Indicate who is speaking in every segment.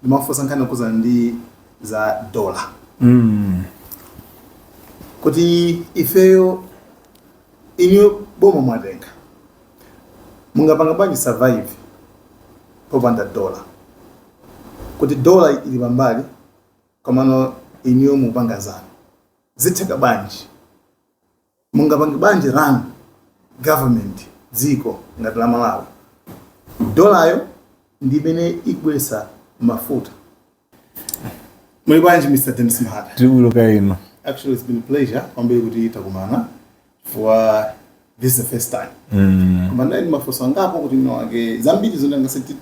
Speaker 1: ndimafunsa nkhani yokhuzana ndi za dola Mm. kuti ifeyo inu boma mwatenga mungapanga bwanji survive popanda dola kuti dola ili pambali komano inuyo mupanga zanu zitheka bwanji mungapange bwanji run government dziko ngati la malawi dolayo ndi imene ikubweretsa mafuta muli bwanji mr denis mahata Tibuluka
Speaker 2: ino actually it's been a
Speaker 1: pleasure kwambiri kuti takumana chifukwa this is the first time koma ndinali ndi mafunso angapo kuti mwinamwake zambiri zoti tingachite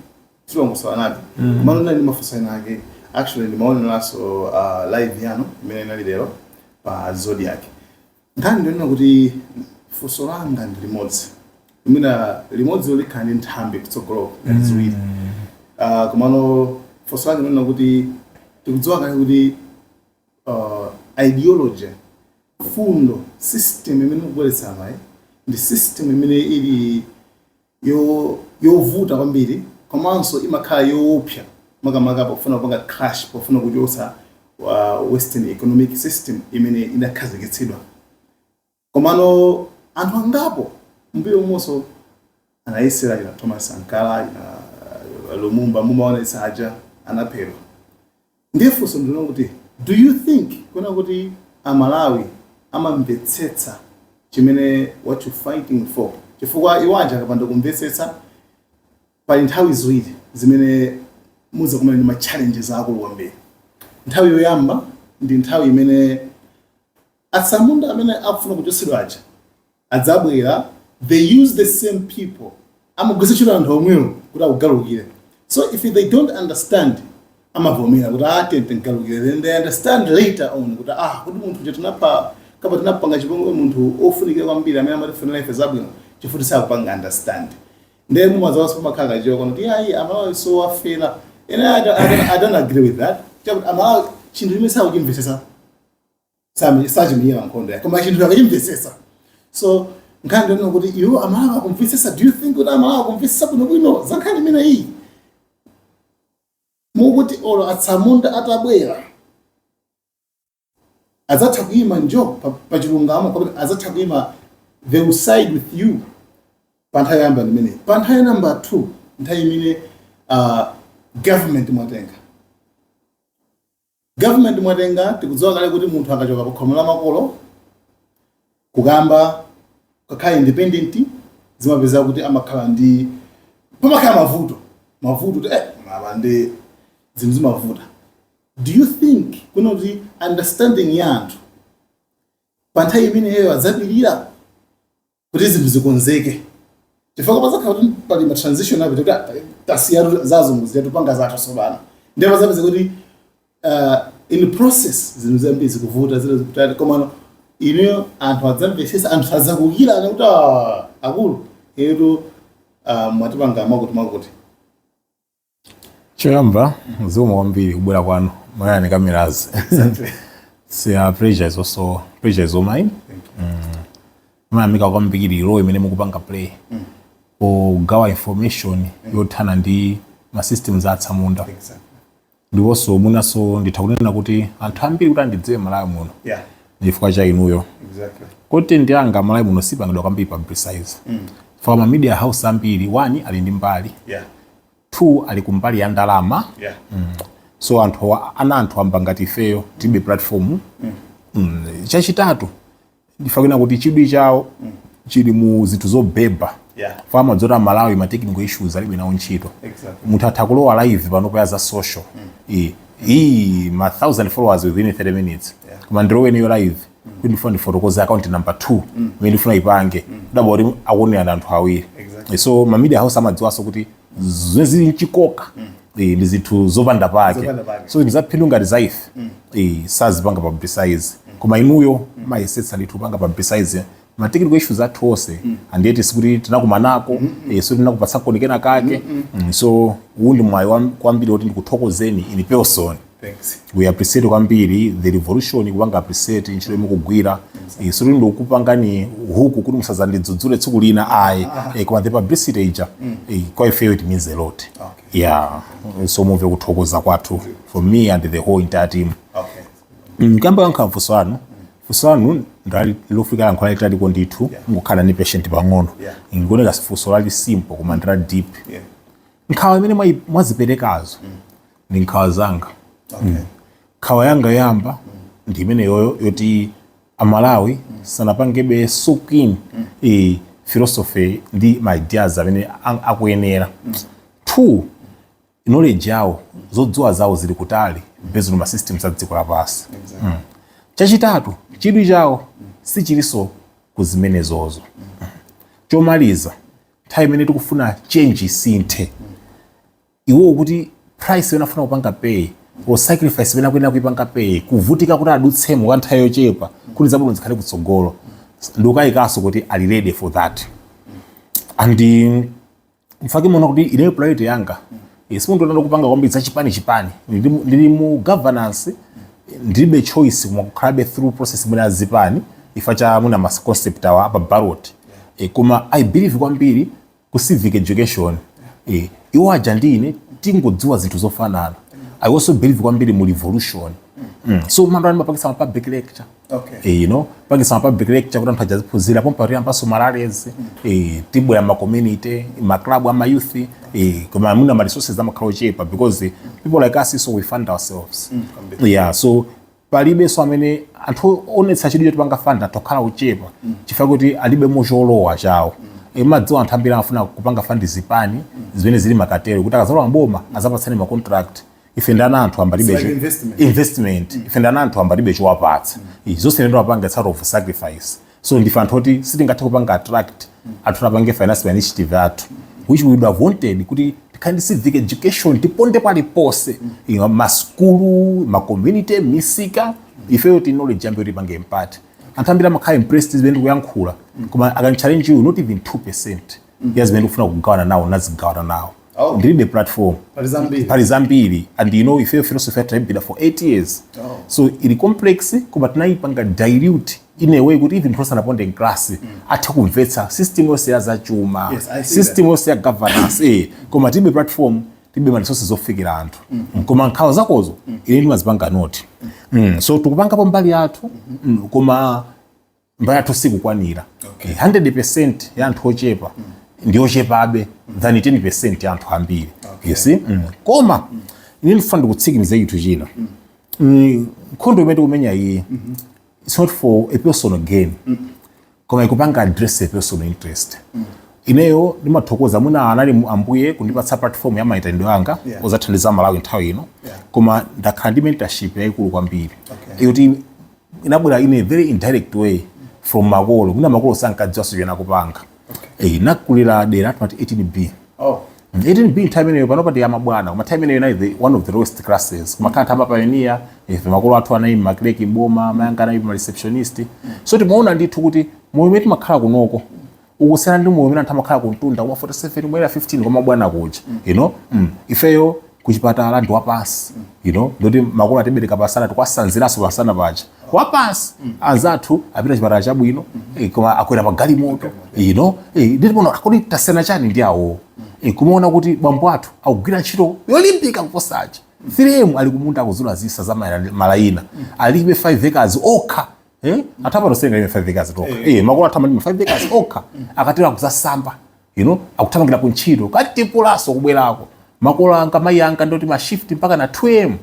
Speaker 1: timakusowanitu mm. komano ndinali ndi mafunso ena ake actually ndimaoneranso uh, live yanu imene inali lero pa zodiac nkhani ndi yonena kuti funso langa ndi limodzi mwina limodzi likhala ndi nthambi kutsogoloko ngati ziwiri uh, komano funso langa ndi lonena kuti tikudziwa kale kuti uh, ideology fundo system imene ikubweretsa amayi ndi system imene ili yovuta kwambiri komanso imakhala yoopsa makamaka pofuna kupanga crash pofuna kuchotsa western economic system imene inakhazikitsidwa komano anthu angapo m'mbuyomonso anayesera kina thomas sankara kina lumumba mumaona ena aja anaphedwa Ndiye funso ndi lonena kuti do you think kunena kuti a Malawi amamvetsetsa chimene what you fighting for chifukwa iwo aja akapanda kumvetsetsa pali nthawi ziwiri zimene muzakumana ndi ma challenges akulu kwambiri. Nthawi yoyamba ndi nthawi imene Atsamunda amene akufuna kuchotsedwa aja adzabwera, they use the same people, amagwiritsa ntchito anthu omwewo kuti akugalukire. So if they don't understand amavomera kuti ah, tiye tigalukire, then they understand later on kuti ah, kodi munthu uja tinapha kapena tinapanga chipongwe munthu ofunikira kwambiri amene amatifunira ife zabwino chifukwa choti sakupanga understand ndiye mumazaonanso pamakhala kachiwawa konena kuti ayi amalawi siowafera and I don't- I don't- i don't agree with that chakuti amalawi chinthu chimene sakuchimvetsetsa sami- sachimenyera nkhondo yake koma chinthu akachimvetsetsa so nkhani ndi yonena kuti iwo amalawi akumvetsetsa do you think kuti amalawi akumvetsetsa bwinobwino za nkhani imeneyi moti olo atsamunda atabwera azatha kuyima njo pa- pa chilungamo kapena azatha kuyima they will side with you pa nthawi yoyamba ndi imeneyi pa nthawi ya namba 2 nthawi imene uh, government mwatenga Government mwatenga tikudziwa kale kuti munthu akachoka pakhomo la makolo kukayamba kukakhala independent zimapezeka kuti amakhala ndi pamakhala mavuto mavuto kuti eh mwina ndi zinthu zimavuta do you think kuti kuti understanding ya anthu pa nthawi imeneyo adzapirira kuti zinthu zikonzeke chifukwa padzakhala kuti pali ma transition apo kuti ah, tasiyatu zazungu zija tupanga zathu tsopano ndiye padzapezeka kuti uh, in the process zinthu zambiri zikuvuta zile zikutali komano inuyo anthu adzamvetsetsa anthu sadzakuukirani kuti "Ah, akulu inutu uh, mwatipanga mwakuti mwakuti
Speaker 2: Choyamba zikomo kwambiri kubwera kwanu Malawian Cameras pleasure is also pleasure is all mine ndimayamika kwambiri role imene mukupanga play pogawa information yothana ndi ma systems a atsamunda ndiponso mwinanso nditha kunena kuti anthu ambiri kuti andidziwe malawi muno Yeah, ndi chifukwa cha inuyo exactly. kuti nkhani zanga malawi muno sizipangidwa kwambiri publicize for ma media house ambiri 1 ali ndi mbali Yeah, 2 ali kumbali ya ndalama yeah. mm. so anthu ana anthu wamba ngati ifeyo tilibe platform mm. mm. chachitatu nditha kunena kuti chidwi chawo mm. chili mu zinthu zobeba yeah. for amadziwa kuti amalawi ma technical issues alibe nawo ntchito exactly. munthu atha kulowa live panopa za social mm. iyi ma 1000 followers within 30 minutes yeah. koma ndilowe ineyo live kuti ndifuna ndifotokoze account number 2 imene ndifuna ipange udabwa kuti akuwonera ndi anthu awiri Exactly. so ma media house amadziwanso kuti zimene zili mchikoka eh, ndi zinthu zopanda pake Zopanda pake. so zinthu zaphindu ngati za ife eh, sazipanga publicize koma inuyo mumayesetsa ndithu kupanga publicize ma technical issues athu onse and yet sikuti tinakumanako eh, so tinakupatsaniko kenakake Mm, so uwu ndi mwayi wam- kwambiri woti ndikuthokozeni in person Thanks.
Speaker 1: we appreciate
Speaker 2: kwambiri the revolution ikupanga appreciate ntchito yomwe mukugwira Eh, sindikupanga hook kuti musadzandidzudzule tsiku lina ayi Eh, koma the publicity ija eh, kwa ifeyo it means a lot Okay. yeah
Speaker 1: so
Speaker 2: mumve kuthokoza kwathu from me and the whole entire team Okay. Mm,
Speaker 1: kukamba nkhani ya
Speaker 2: mafunso anu Funso lanu ndi lofunika yankho lalitaliko ndithu mungokhala ndi patience pang'ono ndikuona kuti si funso lali simple koma ndi la deep nkhawa imene mwayi- mwaziperekazo ndi nkhawa zanga Mm. nkhawa yanga yoyamba ndi imeneyoyo yoti amalawi sanapangebe soak in eh, philosophy ndi ma ideas amene a- akuyenera 2 knowledge yawo zodziwa zawo zili kutali based on ma systems a dziko lapansi mm. chachitatu chidwi chawo sichilinso ku zimenezozo chomaliza nthawi imene tikufuna change isinthe iwowo kuti price imene afuna kupanga pay or sacrifice imene akuyenera kuipanga pay kuvutika kuti adutsemo kwa nthawi yochepa kuti zabwino zikhale kutsogolo ndikukayikanso kuti ali ready for that and nchifukwa chake muona kuti ineyo priority yanga eh, simundiona kupanga kwambiri za chipani chipani ndili mu- ndili mu governance ndilibe choice koma kukhalabe through process imene azipani ifa cha mwina ma concept awa apa ballot eh, koma i believe kwambiri mu civic education eh, iwo aja ndi ine tingodziwa zinthu zofanana i also believe kwambiri mu revolution mm. so mandiona ndimapangitsa ma public lecture okay. e, you know pangitsa ma public lecture kuti anthu aja aziphunzira pompa tiyambanso marallies mm. e, tibwera ma community ma club ama youth e, koma mwina ma resources amakhala ochepa because people like us so we fund ourselves mm. yeah so palibenso amene angaonetse chidwi choti angapange fund tokhala ochepa mm. chifukwa kuti alibe mocholowa chawo mm mumadziwa anthu ambiri amafuna kupanga fund zipani zimene zili makatero kuti akazalowa mboma azapatsane macontract ife ndiye anthu tilibe It's like chi- investment. investment ife ndiye anthu tilibe chowapatsa izi zonse ndikupanga sort of sacrifice so ndife anthu oti sitingathe kupanga attract anthu apange finance ma initiative athu which we would have wanted kuti tikhale ndi civic education tiponde paliponse you know, masukulu macommunity misika ifeyo kuti knowledge yambe tipange impact anthu ambiri amakhala impressed zimene tikuyankhula koma akandichallenge you not even 2 percent ya zimene ndikufuna kugawana nawo nazigawana nawo Oh. ndilibe platform pali zambiri pali zambiri and you know ife philosophy yathu tayimbira for 8 years Oh. so ili complex koma tinayipanga dilute in a way kuti even person aponde class athe kumvetsa system yonse ya zachuma Yes, I see system yonse ya governance eh koma tilibe platform tilibe ma resources ofikira anthu koma nkhawa zakozo ine ndimazipanga note Mm, so tikupangapo mbali yathu Mm, koma mbali yathu sikukwanira okay. 100% ya anthu ochepa mm. ndi ochepabe mm. than 10% ya anthu ambiri okay. yes? mm. koma mm. ine ndifuna kutsimikiza chinthu china mm. mm, nkhondo imene tikumenya iyi mm -hmm. it's not for a personal gain mm -hmm. koma ikupanga address a personal interest mm -hmm ineyo ndimathokoza mwina anali ambuye kundipatsa platform ya maitanidwe anga yeah. ozathandiza malawi nthawi ino yeah. koma ndakhala ndi mentorship yayikulu kwambiri okay. inabwera in a very indirect way from makolo mwina makolo sankadziwa zomwe amapanga eh nakulira dera timati 18b oh. 18b nthawi imeneyo panopa ndi ya mabwana koma nthawi imeneyo inali the one of the lowest classes koma kanatha amapayonia ife makolo athu anali makleki mboma mayanga anali ma receptionist so timaona ndithu kuti moyo umene timakhala kunoko ukusiyana ndi moyo umene anthu amakhala kumtunda kuma 47 kuma area 15 kwa mabwana kuja you know mm. ifeyo kuchipatala ndi wapansi you know ndoti makolo atibereka pasana tikuwasanziranso pasana paja wapansi anzathu apita chipatala chabwino eh, koma akwera pa galimoto you know eh, nditi pano kodi tasiyana chani ndi awo Eh, kumaona kuti bambo athu akugwira ntchito yolimbika kuposa aja 3am ali kumunda akuzula zitsa za mala- malayina alime 5 acres okha eh athapa tosenga ine 5 acres tokha eh makolo athapa ndi 5 acres okha akatero kuzasamba you know akuthamangira ku ntchito katipulanso kubwerako makolo anga mayi anga ndoti ma shift mpaka na 2am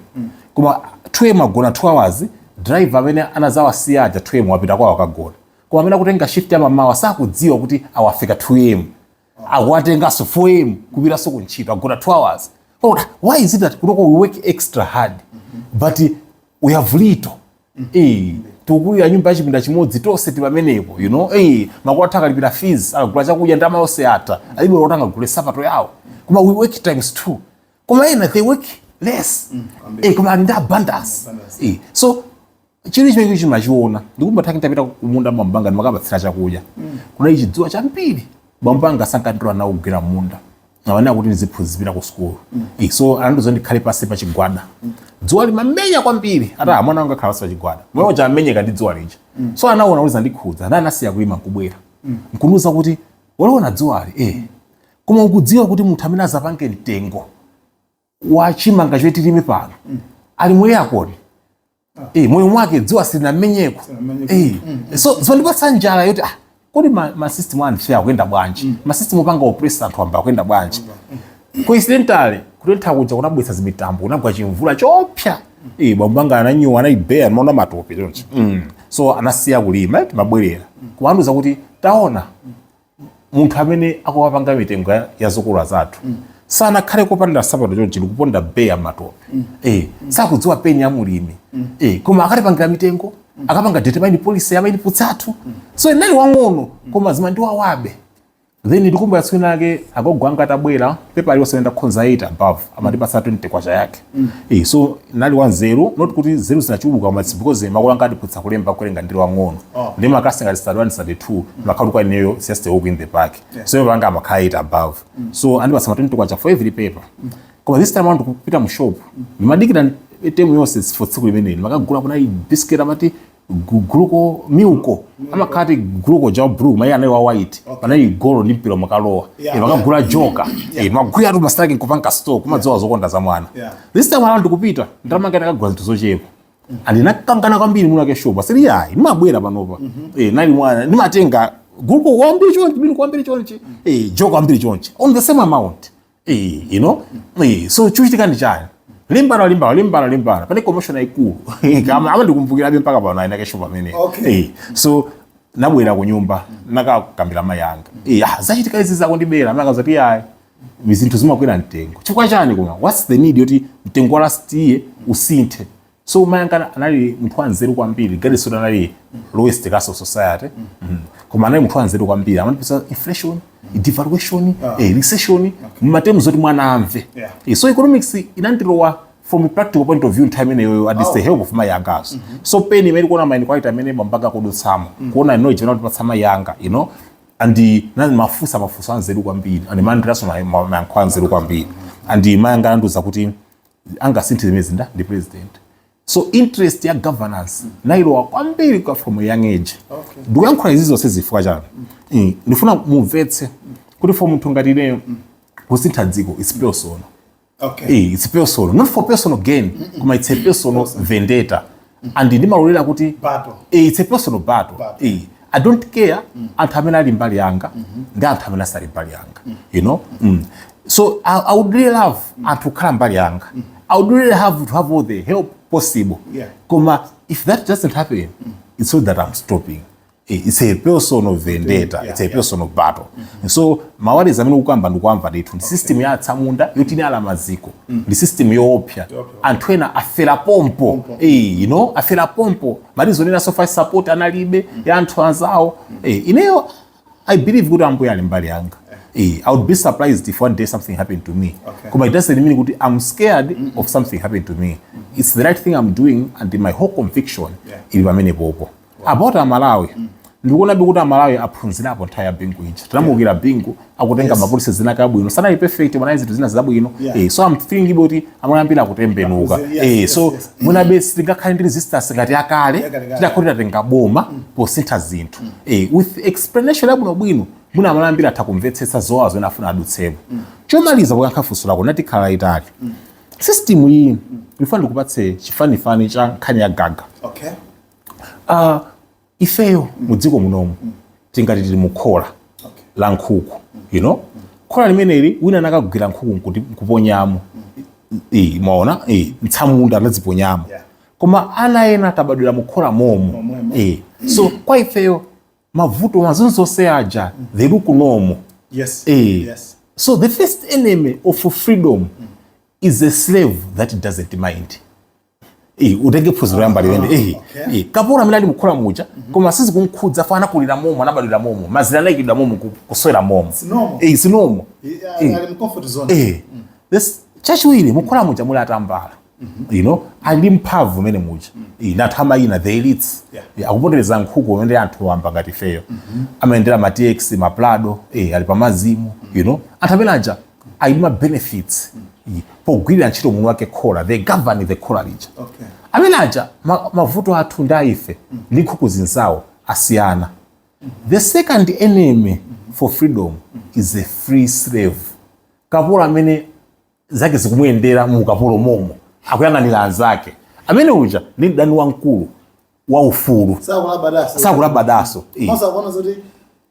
Speaker 2: koma 2am agona 2 hours driver amene anazawasiya aja 2am wapita kwawo akagona koma amene akutenga shift ya mamawa sakudziwa kuti afika 2am akuwatenganso 4am kupitanso ku ntchito agona 2 hours oh, why is it that kutoko we work extra hard but we have little eh tikukulira nyumba yachipinda chimodzi tonse tili pamenepo you know eh makolo athu akalipira fees akagula chakudya ndama yonse yatha alibe kuti angagule sapato yawo koma we work times two koma ena they work less eh koma ali ndi abundance eh so chili chimenecho chimachiona ndikumbuka titapita kumunda bambo anga ndimakapatsira chakudya kunali chidzuwa chambiri bambo anga sankandilola nawo kugwira munda amafuna kuti ndiziphunzi- pita ku sukulu Eh, so anandiuza ndikhale pasi pa chigwada dzuwa limamenya kwambiri ati "Ah, mwana wanga khala pasi pa chigwada mwana uja amenyeka ndi dzuwa lija so anaona kuti zandikhudza ana anasiya kulima nkubwera nkundiuza kuti waliona dzuwali eh koma ukudziwa kuti munthu amene azapange mtengo wachimanga chimene tilime pano mm. ali mu aircon. eh, moyo mwake dzuwa silinammenyeko eh. mm, mm. so zimandipatsa njala yoti ah, kodi masystem ma anthu akuyenda bwanji mm. masystem opanga oppress anthu wamba akuyenda bwanji mm. coincidentally kutentha kuja kunabwesa zimitambo kunagwa chimvula choopsa mm. eh, bambo anga ananyowa anali bare maona matope chonchi mm. so anasiya kulima timabwerera mm. kumandiuza kuti taona mm. munthu amene akuwapanga mitengo ya- ya zokolola zathu sanakhale kopanda nsapato chonchi ndikuponda bare m'matope eh, sakudziwa pain ya mulimi eh, koma akatipangira mitengo akapanga determine policy ya mainputs athu so ndinali wang'ono koma zimandiwawabe then ndikumbuka tsiku lina lake agogo anga atabwera pepa iliyonse imene ndakhonza 8 above amatipatsa 20 kwacha yake Eh, so nali wanzeru not kuti zeru zinachuluka koma it's because makolo anga andiphunzitsa kulemba kuwerenga ndili wang'ono Oh. nde makalasi ngati stad 1 stad 2 imakhala kwa ineyo it's just a walk in the park so mapepa anga amakhala 8 above so andipatsa ma 20 kwacha for every paper koma this time around kupita mu shop ndimadikira temu yonse for tsiku limeneli makagula kunali biscuit amati guluko milko amakhala ti guluko ja blue mayi anali wa white panali golo ndi mpira makalowa Yeah. Eh, makagula joka Eh, magwira tu masitaki nkupanga store kumadziwa zokonda za mwana Yeah. this time around kupita ndamanga ndakagula zinthu zochepa and ndinakangana kwambiri mwini wake shop sili yayi ndimabwera panopa Eh, nali mwana ndimatenga guluko wambiri chonchi milko wambiri chonchi Eh, joka wambiri chonchi on the same amount Eh, you know? Eh, so chochitika ndi chani limbana limbana limbana limbana panali commotion yaikulu kama ama ndikumbukirabe mpaka pano ayina kesho pamene Okay. eh, so nabwera ku nyumba nakakambira mai anga eh, ah, zachitika izi akundibera manga zati ayi zinthu zimakwera mtengo chifukwa chani koma what's the need yoti mtengo wa last year usinthe so mai anga anali munthu wanzeru kwambiri regardless zoti anali lowest class of society Mhm. koma anali munthu wanzeru kwambiri amatiphunzitsa inflation devaluation eh, recession m'ma terms oti mwana amve Yeah. Eh, so economics inandilowa from a practical point of view nthawi imeneyoyo at least the help of mai anga so pain imene tikuona maini kwaita amene bambo anga akudutsamo kuona you know chimene akutipatsa mai anga you know and ndimafunsa mafunso anzeru kwambiri and ndimalandiranso mayankho anzeru kwambiri and mai anga anandiuza kuti angasinthe zimenezi ndi president so interest ya governance nailowa kwambiri kwa from young age Okay. ndikuyankhula izi zonse chifukwa chani Eh, ndifuna mumvetse kuti for munthu ngati ineyo kusintha dziko it's personal Okay. Eh, it's personal not for personal gain koma it's a personal vendetta and ndimalolera kuti Battle. eh, it's a personal battle Battle. eh, i don't care anthu amene ali mbali yanga ndi anthu amene asali mbali yanga you know mm. so I, i would really love anthu kukhala mbali yanga i would really love to have all the help possible Yeah. koma if that doesn't happen it's not that i'm stopping it's a personal vendetta it's a personal battle and so ma worries amene ukukamba ndikuwamva ndithu ndi system ya atsamunda yoti inayala maziko ndi system yoopsa anthu ena afera pompo Eh, you know afera pompo ma reason ena so far support analibe ya anthu anzawo Eh, ineyo i believe kuti ambuye ali mbali yanga Eh, i would be surprised if one day something happened to me Okay. koma it doesn't mean kuti i'm scared of something happening to me it's the right thing i'm doing and my whole conviction Yeah. ili pamenepopo about amalawi mm. ndikuonabe kuti amalawi aphunzirapo nthawi ya bingu ija tinamuukira bingu akutenga yes. ma policies ena abwino sanali perfect mwana zinthu zina zabwino yeah. eh, so i'm thinking kuti amalawi ambiri akutembenuka yes, eh, yes, so yes, yes. mwinabe mm. sitingakhale ndi resistance ngati yakale titakhala kuti tatenga boma mm. posintha zinthu mm. eh, with explanation yabwino bwino mwina amalawi ambiri atha kumvetsetsa zowazo ena afuna adutsepo mm. chomaliza kuyankha funso lako natikhala itali mm. system iyi mm. ndikufuna ndikupatse chifanifani cha nkhani ya gaga okay. Uh, ifeyo mu dziko munomu tingati tili mu khola la nkhuku you know khola limeneli wina anakagwira nkhuku nkuti- nkuponyamo Eh, mwaona Eh, mtsamunda anaziponyamo Yeah. koma ana ena tinabadwira mu khola momo Momwemo. Eh, so kwa ifeyo mavuto mazonzonse aja they look normal yes Eh. yes So the first enemy of freedom is a slave that doesn't mind. Eh, utenge phunziro loyamba limenelo ah, eh, eh, kapolo amene ali mukhola muja koma sizikumkhudza fo anakulira momo anabadwira momo mazira anayikidwa momo kuswera momo eh, si momo chachiwiri mukhola muja muli atambala mm-hmm. you know ali ndi mphamvu mmene muja mm-hmm. anthu amayina the elites akupondereza nkhuku zimene ndi anthu wamba ngati ifeyo mm-hmm. amayendera ma tx ma prado ali pamazimu you know anthu amene aja ali ndi ma benefits mm. pogwirira ntchito ndi mwini wake khola they govern the khola lija okay. amene aja mavuto athu ndi aife mm. ndi nkhuku zinzawo asiyana mm -hmm. the second enemy mm -hmm. for freedom mm -hmm. is a free slave kapolo amene zake zikumuyendera mu ukapolo momo akuyang'anira anzake amene uja ndi mdani wamkulu waufulu sakulabadanso sakulabadanso Eh. komanso akuona
Speaker 1: zoti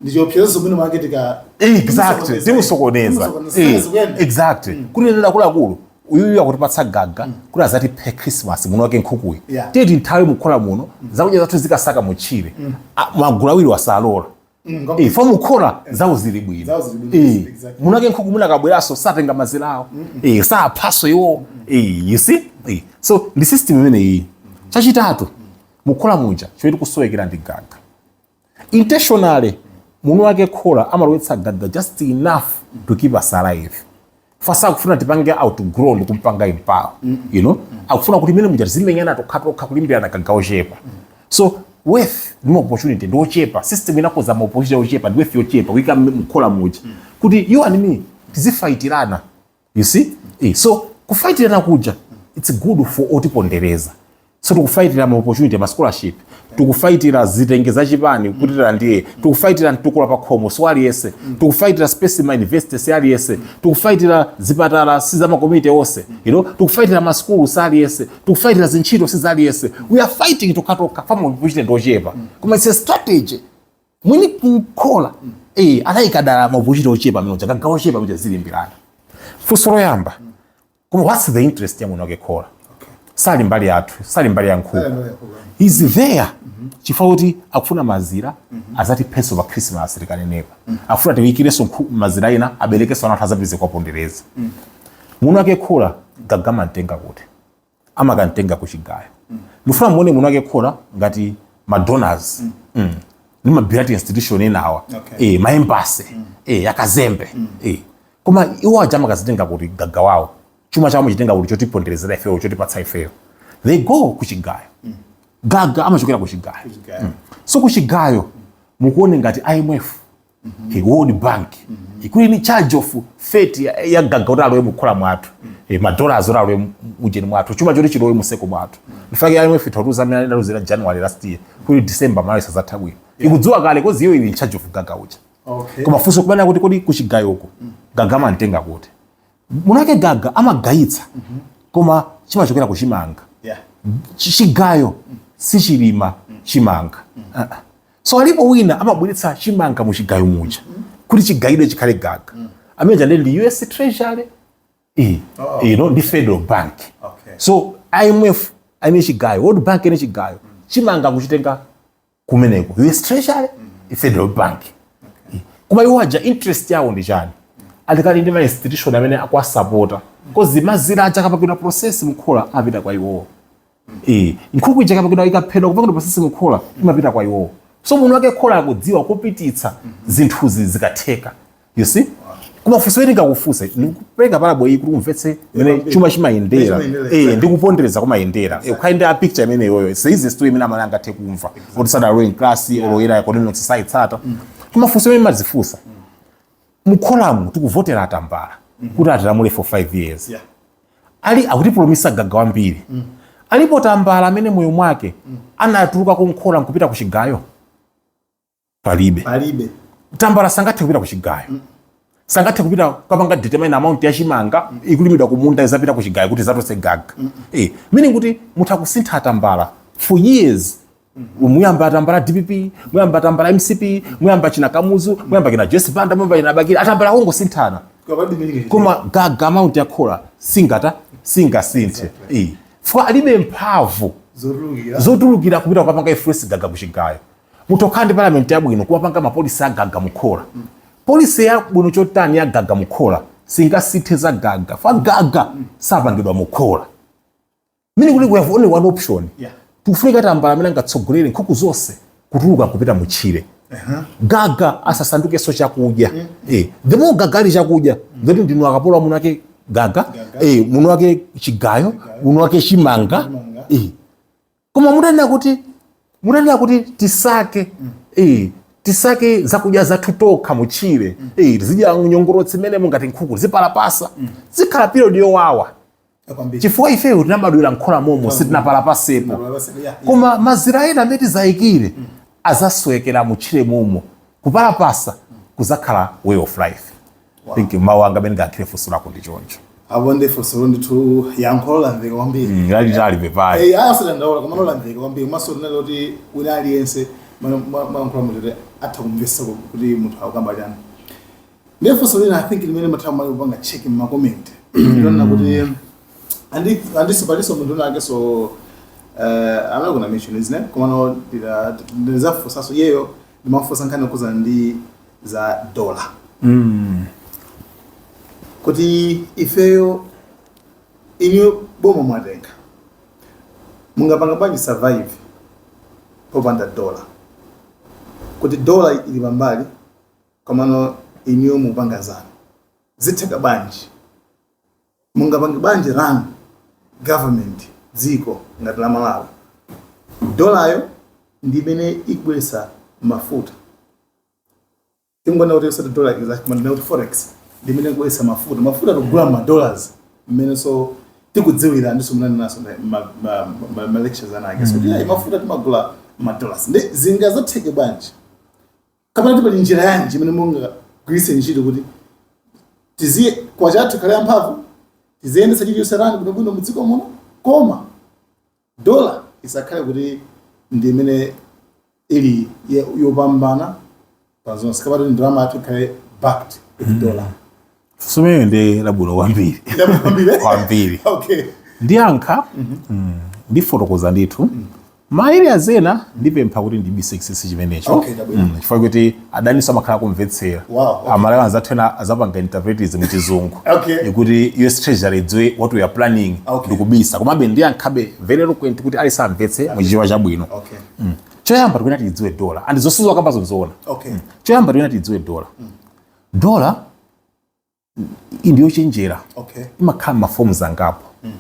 Speaker 1: ndichiopsezo mwini wake tika exactly
Speaker 2: timusokoneza Timusokoneza. Eh, Zikuenda. exactly kunena kuti akuluakulu uyuyu akutipatsa gaga kuti azatiphe christmas mwini wake nkhukuyi Yeah. tiyeni tithawe mukhola muno zakudya zathu tizikasaka mutchire Ah, magulu awiri awa salola Mm, eh, fo mukhola eh. zawo zili bwino eh, mwini wake nkhuku mwina akabweraso satenga mazira awo eh, saaphaso iwo eh, you see eh. so ndi system imene iyi chachitatu mukhola muja choyenera kusowekera ndi gaga intentionally mwini wake khola amalowetsa gaga just enough to keep us alive fo sakufuna tipange outgrow ndi kumpanga empower mm -hmm. you know mm -hmm. akufuna kuti mmene muja tizimenyana tokhatokha kulimbirana gaga wochepa mm -hmm. so wealth ndi ma opportunity ndi ochepa system inakoza ma opportunity ochepa ndi wealth yochepa kuika mkhola muja mm -hmm. kuti you and me tizifaitirana you see mm -hmm. so kufaitirana kuja it's good for otipondereza so tikufayitira ma opportunity ma scholarship tikufayitira zitenje za chipani kuti tilandire tikufayitira mtukula pa khomo si aliyense tikufayitira space ma university si aliyense tikufayitira zipatala si za ma community onse you know tikufayitira ma school si aliyense tikufayitira zintchito si za aliyense we are fighting tokhatokha fo ma opportunity ndi ochepa koma it's a strategy mwini wake khola eh anayika dala ma opportunity ochepa mmene muja gaga wochepa mmene muja tizilimbirana funso loyamba koma what's the interest ya munthu wake khola sali mbali yathu sali mbali ya nkhuku he's there chifukwa kuti akufuna mazira azatiphenso pa khrisimasi tikanenepa akufuna tiyikirenso nkhu- mazira ena aberekenso ana athu azapeze kwapondereza munthu wake khola gaga amamtenga kuti amakamtenga kuchigayo ndifuna muone munthu wake khola ngati madonors mm. ndi ma bilateral institution enawa Okay. eh, ma embassy eh, akazembe eh. Koma iwo aja amakazitenga kuti? Gaga wawo. Chuma chawo amachitenga kuti chotiponderezera ifeyo, chotipatsa ifeyo? They go kuchigayo. Mm. Gaga amachokera kuchigayo. Kuchigayo. Mm. So kuchigayo mm. mukuone ngati IMF mm -hmm. ndi World Bank mm -hmm. imene ili in charge of fate ya, ya gaga kuti alowe mukhola mwathu mm. e, eh, madola azoti alowe mujeni mwathu chuma choti chilowe mudziko mwathu mm. ndi chifukwa chake IMF itautuza amene analuzira January last year kuti December malawi sizatha bwino yeah. ikudziwa kale coz iyo ili in charge of gaga uja mm. okay. koma funso nkumati kodi kuchigayoko gaga amamtenga kuti mwinatu gaga amagayitsa koma chimachokera kuchimanga yeah. Chi- chigayo sichilima chimanga Ah, ah. so alipo wina amabweretsa chimanga mu chigayo muja kuti chigayidwe chikhale gaga amene chande ndi us treasury iyi Oh. you know, ndi federal bank Okay. so imf ili chigayo world bank ili chigayo chimanga akuchitenga kumeneko US treasury ndi federal bank koma iwo aja interest yawo ndi chani ali kale ndi ma institution amene akuwasapota coz mazira aja akapangidwa process mukhola apita kwa iwowo Eh, nkhuku ija ikapangidwa ikaphedwa kupangidwa process mukhola imapita kwa iwowo so munthu wake khola akudziwa kupititsa zinthuzi zikatheka you see koma funso ili ndikufunse ndikupereka parable iyi kuti umvetse mene chuma chimayendera eh ndikupondereza kumayendera eh ukaona picture imene iyoyo it's the easiest way imene amene angathe kumva kuti sada ruling class or ya economic society tsata koma funso limene ndimadzifunsa mukholamu tikuvotera atambala kuti atilamule for 5 years Yeah. ali akutipromisa gaga wambiri alipo tambala amene mmoyo mwake anatuluka mukhola nkupita ku chigayo palibe palibe tambala sangathe kupita kuchigayo mm. sangathe kupita kukapanga determine amount ya chimanga mm. ikulimidwa kumunda izapita kuchigayo kuti izatulutse gaga mm. eh, meaning kuti mutha kusintha tambala for years muyamba atambala dpp muyamba atambala mcp muyamba akina kamuzu muyamba akina joyce banda muyamba akina bakili atambala kungosinthana koma gaga amount ya khola singathe singasinthe eh. fwa alibe mphamvu zotulukira kupita kukapanga influence gaga kuchigayo mutha kukhala ndi parliament yabwino kumapanga mapolisi agaga mukhola polisi yabwino chotani yagaga mukhola singasinthe za gaga chifukwa gaga sapangidwa mukhola meaning kuti we have only one option yeah. tikufunika tambala amene angatsogolere nkhuku zonse kutuluka kupita mutchire uh-huh. gaga asasandukenso chakudya mm. eh, the more gaga ali chakudya mm. then ndinu akapolo a mwini wake gaga, gaga. Eh, mwini wake chigayo mwini wake chimanga, chimanga. Eh. koma mutanena kuti mutanena kuti tisake mm. eh, tisake zakudya zathu tokha mutchire mm. eh, tizidya nyongolotsi mmenemo ngati nkhuku zipalapasa mm. zikhala period yowawa chifukwa ifeyo tinabadwira mkhola momo sitinapalapasepo koma mazira ena amene tizayikire mm. azaswekera mutchire momo kupalapasa mm. kuzakhala way of life Wow. think mawu anga amene ndiyankhire funso lako ndi choncho aponso
Speaker 1: ndithu yankho lolandirika kwambiri Mm, lalitali pepani
Speaker 2: Eh, aya sadandaula koma lolandirika
Speaker 1: kwambiri komanso lina loti wina aliyense mwalankhula moti atha kumvesa kuti munthu akukamba chani ndiye funso lina i think limene nthawi imene ndimapanga check mma comment ndi lonena kuti andi- andiso paliso munthu winawakeso I'm not gonna mention his name komano ndizafunsaso iyeyo amafunsa nkhani yokhuzana ndi za dola mm. kuti ifeyo inuyo boma mwatenga mungapanga bwanji survive popanda dola kuti dola ili pambali komano inuyo mupanga zanu zitheka bwanji mungapange bwanji run government dziko ngati la malawi dolayo ndi imene ikubweretsa mafuta tingonena kuti osati dollar is like mwanena kuti forex ndi imene ikubweresa mafuta mafuta tikugula ma dollars mmeneso tikudziwira ndiso munanenaso ma- ma- ma- ma- ma lectures anake so kuti ayi mafuta timagula ma dollars ndi zingazatheke bwanji kapena kuti pali njira yanji imene mungagwiritse ntchito kuti kwacha yathu ikhale yamphamvu tiziyendetsa chilichonse run bwinobwino mudziko muno koma dola isakhale kuti ndi imene ili ye- yopambana pa zonse kapena kuti ndalama yathu ikhale backed with dola funsolo
Speaker 2: ndi labwino kwambiri Ndalama kwambiri, eh? kwambiri
Speaker 1: okay
Speaker 2: ndiyankha mm, ndifotokoza ndithu ma area ena ndipempha kuti ndibise chinsinsi chimenecho Okay, chabwino. Mm, chifukwa kuti adaniso amakhala akumvetsera wow, okay. amalawi anzathu ena azapanga interpret izi mu chizungu okay. nkuti us treasury idziwe what we are planning okay. ndikubisa komabe ndiyankhabe very eloquent kuti aliyense amvetse okay. muchichewa chabwino okay. mm. choyamba tikuyena tiidziwe dola and zonse mwakambazo nzoona okay. mm. choyamba tikuyena tiidziwe dola mm. dola ndi yochenjera okay. imakhala maforms angapo mm.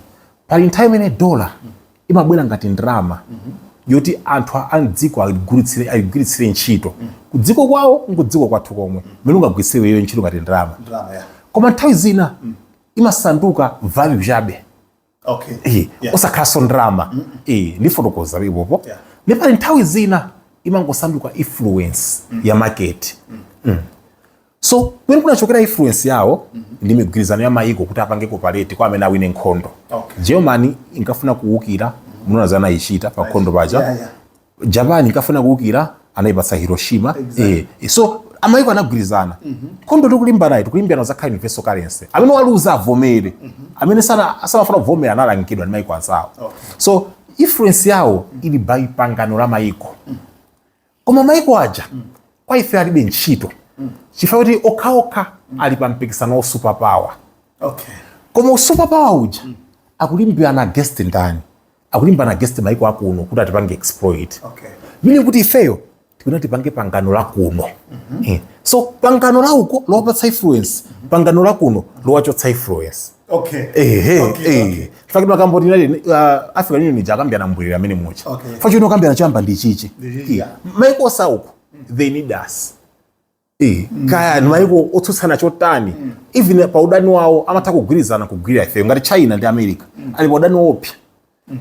Speaker 2: pali nthawi imene dola mm. imabwera ngati ndalama mm -hmm. yoti anthu a mdziko ayigwiritsire ntchito mm. kudziko kwawo nkudziko kwathu komwe mm. mmene ungagwiritsire iyo ntchito ngati ndalama yeah. koma nthawi zina mm. imasanduka value chabe okay Eh, Yeah. osakhalanso ndalama Eh, ndifotokoza apopo Yeah. ndi pali nthawi zina imangosanduka influence ya market Mm. so kumene kunachokera influence yawo ndi migwirizano ya mayiko kuti apange cooperate kwa amene awine nkhondo Okay. germany inkafuna kuwukira munaona zinayichita pa nkhondo paja Yeah, yeah. japan inkafuna kuukira anayipatsa hiroshima exactly. eh, eh so mayiko anagwirizana mm -hmm. nkhondo tikulimbanayi tikulimbirana za kale universal currency amene waluza avomere mm -hmm. amene samafuna kuvomera analangidwa ndi mayiko anzawo okay. so influence yawo mm -hmm. ili by pangano la mayiko mm -hmm. koma mayiko aja mm -hmm. kwa ife alibe ntchito mm -hmm. chifukwa choti okhaokha mm -hmm. ali pa mpikisano wa super power okay. koma super power uja mm -hmm. akulimbirana against ndani akulimbana against maiko akuno kuti atipange exploit okay. meaning kuti ifeyo tikufuna tipange pangano la kuno mm -hmm. yeah. so pangano la uko lowapatsa influence mm -hmm. pangano la kuno lowachotsa influence okay. eh, eh, okay, eh. Okay. nchifukwa ndakamba kuti tili uh, african union ija akambirana mbwerera amene mucha okay. nchifukwa ino akambirana chamba ndi chichi yeah. maiko osauko mm -hmm. they need us Eh, kaya maiko otsutsana chotani even pa udani wawo amatha kugwirizana kugwirira ifeyo ngati china ndi america ali pa udani woopsa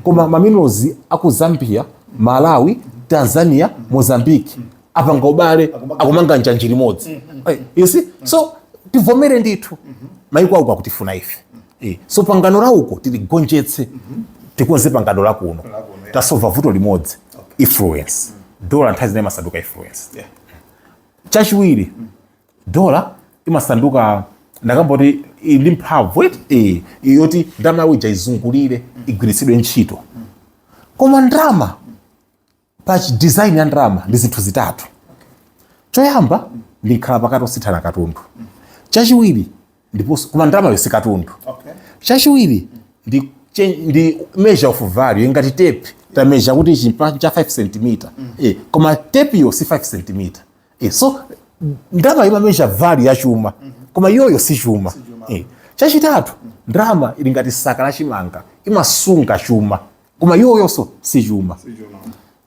Speaker 2: koma maminerals aku zambia malawi tanzania mozambique apanga ubale akumanga njanji limodzi Eh, you see so tivomere ndithu maiko auko akutifuna ife Eh, so pangano la uko tiligonjetse tikonze pangano la kuno tasova vuto limodzi influence dola nthawi zina imasanduka influence Yeah. chachiwiri dola imasanduka ndakamboti ili ndi mphamvu eti eh, yoti ndalama yawo ija izungulire igwiritsidwe ntchito koma ndalama pa chidesign ya ndalama ndi zinthu zitatu choyamba ndi mkhalapakati osinthana katundu chachiwiri ndiponso koma ndalamayo si katundu okay. chachiwiri ndi, ndi measure of value ngati tepi tameasure kuti ichi cha 5 cm mm. eh, koma tepiyo si 5 cm eh, so ndalama imameasure value ya chuma mm -hmm. koma iyoyo si chuma, si chuma. Eh, chachitatu mm. ndalama ili ngati saka la chimanga imasunga chuma koma iyoyonso si chuma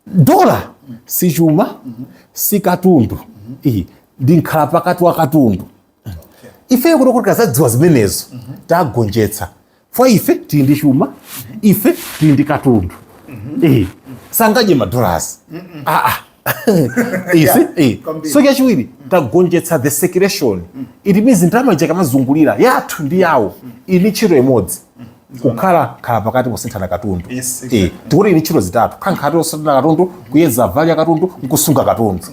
Speaker 2: dola si chuma mm -hmm. si katundu mm -hmm. ndi mkhalapakati wa katundu ifeyo kuno kuti kazadziwa zimenezo tagonjetsa fwa ife tili ndi chuma ife tili ndi katundu Eh, sangadye madolasi aa isi eh. so chachiwiri tagonjetsa the circulation it means ndalama ija kamazungulira yathu ndi yawo ili ndi ntchito imodzi kukhala khala pakati posinthana katundu Yes, Eh, exactly. tikuti ili ntchito zitatu kukhala pakati posinthana katundu kuyeza value ya katundu nkusunga katundu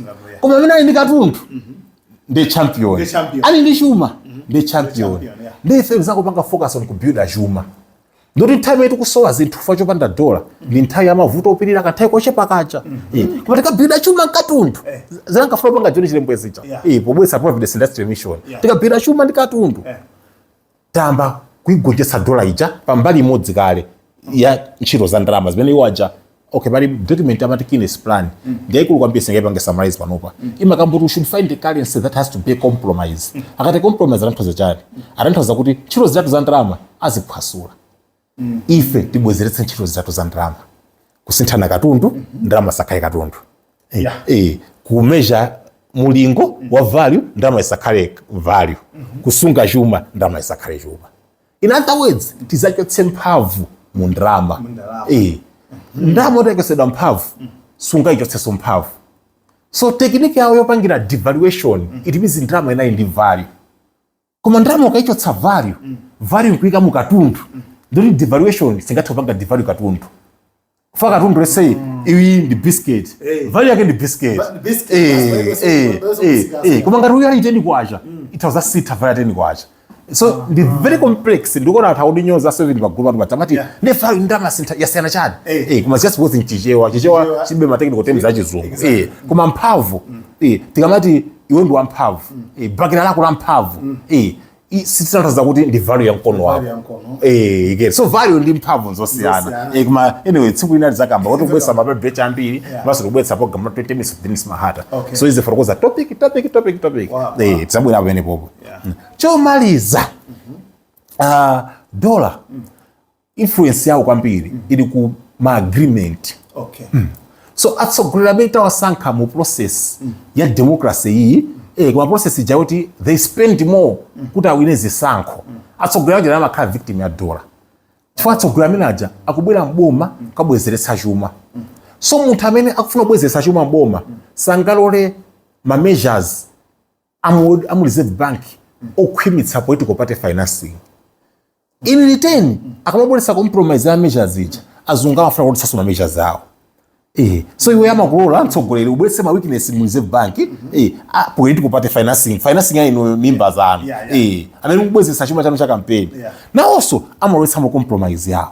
Speaker 2: koma amene ali ndi katundu ndi champion Ndi champion. ali ndi chuma ndi champion champion, yeah. ndi ife n'zakupanga focus on kubuilda chuma nde kuti nthawi imene tikusowa zinthu chifukwa chopanda dola ndi nthawi ya mavuto opirira kanthawi kochepa chabe Eh, koma tikabuilda chuma mkatundu zinankafuna kupanga John Chilembwe zija Yeah. Eh, pobweretsa providence industrial mission Yeah. tikabuilda chuma ndi katundu Eh. tayamba kuigonjetsa dola ija pa mbali imodzi kale ya ntchito za ndalama zimene iwo aja okay pali document amati Keynes plan mm. ndi yaikulu kwambiri sindingaipange summarize panopa mm. imakamba kuti we should find a currency that has to be a compromise mm. akati compromise akutanthauza chani akutanthauza kuti ntchito zitatu za ndalama aziphwasula mm. ife tibwezeretse ntchito zitatu za ndalama kusinthana katundu mm -hmm. ndalama isakhale katundu eh, yeah. e, eh, kumeasure mulingo mm -hmm. wa value ndalama isakhale value mm -hmm. kusunga chuma ndalama isakhale chuma in other words tizachotse mphamvu mu ndalama e, ndalama yochotsedwa mphamvu mm. sungaichotsenso mphamvu so technique yawo yopangira devaluation mm -hmm. it means ndalama ija ili ndi value koma ndalama ukaichotsa value mm. value nkuika mu katundu mm. nde kuti devaluation singathe kupanga devalue katundu chifukwa katundu let's say mm. iwe uli ndi biscuit hey. Eh. value yake ndi biscuit eh eh eh, eh. koma ngati uyo ali ndi 10 kwacha mm. itha kusintha value 10 kwacha so ah. ndi very complex ndikuona anthu akundinyoza so ndi magulu a anthu amati nde value ndalama sintha yasiyana chani hey. Eh. eh koma just both in chichewa chichewa chilibe ma technical terms achizungu eh koma mphamvu mm. eh tikamati iwe ndi wamphamvu e, chibakera lako la mphamvu mm. e, sitikutanthauza kuti ndi value ya mkono wako eh get so value ndi mphamvu zosiyana eh koma anyway tsiku lina tizakamba kuti kubweretsa ma paper ambiri mwinanso kubweretsa program 20 minutes with Dennis Mahata so izi for kuza topic topic topic topic eh tizabwera pamene popo mm. chomaliza mm-hmm. ah dola mm. influence yawo kwambiri mm. ili ku ma agreement okay. mm. so atsogoleri amene tawasankha mu process mm. ya democracy iyi mm. eh, mu process ija kuti they spend more mm. kuti awine zisankho mm. atsogoleri aja amakhala victim ya dola chifukwa atsogoleri amene aja akubwera m'boma mm. kukabwezeretsa chuma mm. so munthu amene akufuna kubwezeretsa chuma m'boma mm. sangalole ma measures amu, amu reserve bank okhwimitsa political party financing in return akamabweretsa compromise ya measures ija azungu amafuna kuti ma measures awo Eh, so iwe amakulola mtsogoleri ubweretse ma weakness mu reserve bank eh, a- political party financing financing ya inu mimba zanu Yeah, yeah. eh, anali kubwezeretsa chuma chanu cha kampeni Yeah. nawonso amalowetsa mu compromise yawo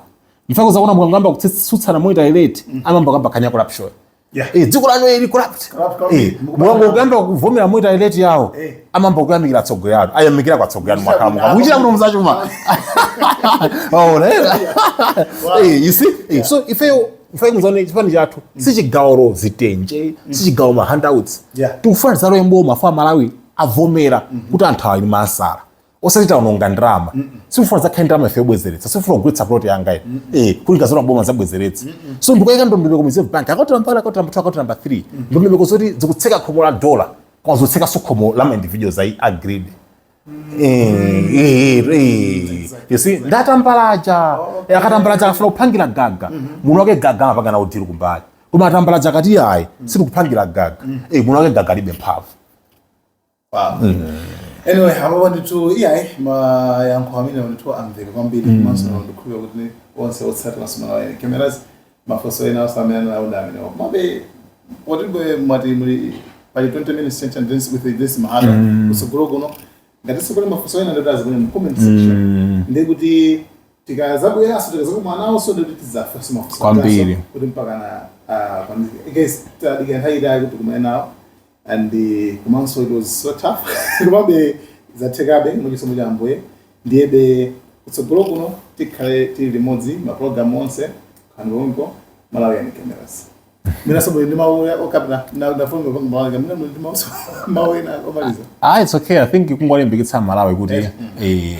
Speaker 2: mchifukwa chake zakuona mukangamba kutsutsana monetary rate amamba kukamba ka nya corruption Yeah. Eh, dziko lanu ili corrupt. Eh, mwangoyamba kuvomera monetary rate yawo. Eh. Amamba kuyamikira tsogo yanu. Ayamikira kwa tsogo yanu mwaka mwaka. Mukuchita bwino mzachuma. Oh, lera. Eh, you see? Eh, so ife ife ngizone chipani chathu mm. sichigawanso zitenje, mm. sichigawanso ma handouts. Yeah. Tikufuna tizalowe m'boma a Malawi avomera mm-hmm. kuti anthuwa ali ndi nzeru. osati taononga ndalama sitikufuna zakhale ndalama ife yobwezeretsa sindikufuna kugulitsa plot yanga ine eh kuti tikazalowa m'boma zabwezeretsa so ndikuyika ndondomeko ku reserve bank akaunti namba 1 akaunti namba 2 akaunti namba 3 ndondomeko zoti zikutseka khomo la dollar koma zotsekanso khomo la ma individuals ayi agreed Eh, eh, eh. You see, ndatambalaja Eh, akatambalaja akafuna kupangira gaga muno wake gaga amapanga nawo dili kumbali koma atambalaja akati ayi sindikupangira gaga Eh, muno wake gaga alibe mphamvu
Speaker 1: Wow. Anyway, apapa ndithu iyayi mayankho amene ndithu amveka kwambiri komanso ndikhulupira kuti onse otsatira Malawian Cameras mafunso ena onse amene anawona amene komabe poti bwe mwati muli pali 20 minutes change and dance with this mahara kusogolo kuno ngati sikuli mafunso ena ndoti aziponye mu comment section ndekuti tikazabweranso tikazakumananso ndoti tizafunsa mafunso Kwambiri. kuti mpaka
Speaker 2: na
Speaker 1: ah, kwambiri guys tadika nthawi itali kuti tikumane nawo and the komanso it was so tough komabe zathekabe mwachisomo cha ambuye ndiyebe kutsogolo kuno tikhale tili limodzi mapulogalamu onse kuno ku Malawian Cameras mwinanso muli ndi mawu okapita kwa mtundu wa Malawi mwina muli ndi mawu mawu ena omaliza ah it's okay i think
Speaker 2: kungolimbikitsa aMalawi kuti eh,